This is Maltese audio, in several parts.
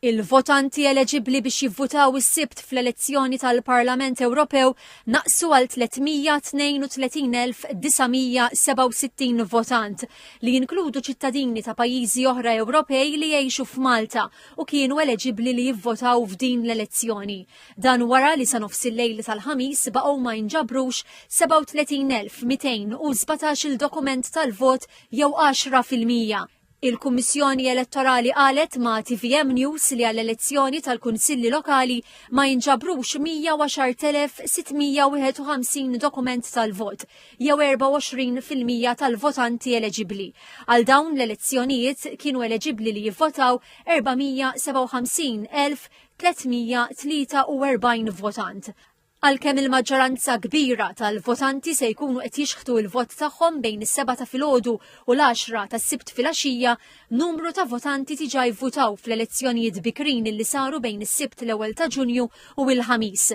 Il-votanti eleġibbli biex jivvutaw is-Sibt fl-elezzjoni tal-Parlament Ewropew naqsu għal 332,967 votant, li jinkludu ċittadini ta' pajjiżi oħra Ewropej li jgħixu f'Malta u kienu eleġibbli li jivvotaw f'din l-elezzjoni. Dan wara li sa nofs il-lejl tal-Ħamis baqgħu ma jinġabrux 37,217-il dokument tal-vot jew għaxra fil-mija. Il-Kummissjoni Elettorali qalet ma' TVM News li għall-elezzjoni tal-Kunsilli Lokali ma jinġabrux 110,651 dokument tal-vot, jew 24 fil-mija tal-votanti eleġibbli. Għal dawn l-elezzjonijiet kienu eleġibbli li jivvotaw 457,343 votant. Għalkemm il-maġġoranza kbira tal-votanti se jkunu qed jixħtu l-vot tagħhom bejn is-sebgħa ta' filgħodu u l-għaxra tas-Sibt filgħaxija, numru ta' votanti diġà vvutaw fl-elezzjonijiet bikrin li saru bejn is-Sibt l-ewwel ta' Ġunju u l-Ħamis.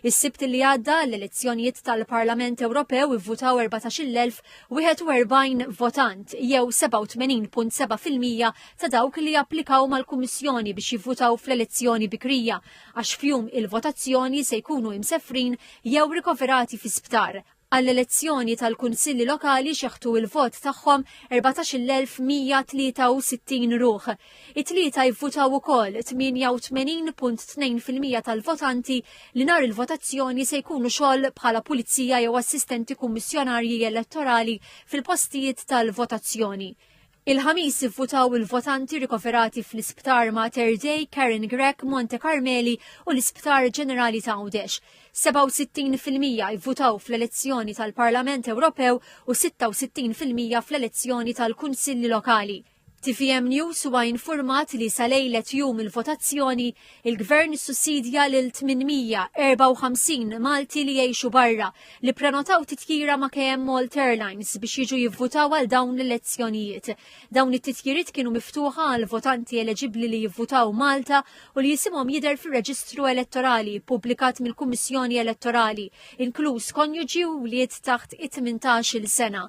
Is-Sibt li għadda għall-elezzjonijiet tal-Parlament Ewropew ivvutaw 14,041 votant jew 87.7 fil-mija ta' dawk li applikaw mal-Kummissjoni biex jivvutaw fl-elezzjoni bikrija għax f'jum il-votazzjoni se jkunu imsefrin jew rikoverati fi sptar. Għall-elezzjoni tal-Kunsilli Lokali xeħtu il-vot tagħhom 14,163 ruħ. It-tlieta jivvutaw ukoll 88.2% tal-votanti li nhar il-votazzjoni se jkunu xogħol bħala pulizija jew assistenti kummissjonarji elettorali fil-postijiet tal-votazzjoni. Il-Ħamis ivvutaw il-votanti rikoverati fl-Isptar Mater Dei, Karen Grech, Monte Karmeli u l-Isptar Ġenerali ta' Għawdex. 67 fil-mija ivvutaw fl-elezzjoni tal-Parlament Ewropew u 66 fil-mija fl-elezzjoni tal-Kunsilli Lokali. Tvm News huwa infurmat li sa lejlet jum il-votazzjoni, Il-Gvern issussidja lil 854 Malti li jgħixu barra li prenotaw titjira ma' KM Malt Airlines biex jiġu jivvutaw għal dawn l-elezzjonijiet. Dawn it-titjiriet kienu miftuħa għal votanti eleġibbli li jivvutaw Malta u li jisimhom jidher fir-reġistru elettorali ppubblikat mill-Kummissjoni Elettorali, inkluż konjuġi u wlied taħt it-18-il sena.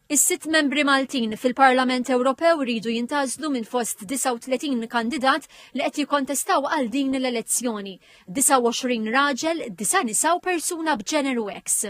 Is-sitt membri Maltin fil-Parlament Ewropew iridu jintgħażlu minn fost 39 kandidat li qed jikkontestaw għal din l-elezzjoni, 29 raġel, disa' nisa u persuna b'ġeneru X.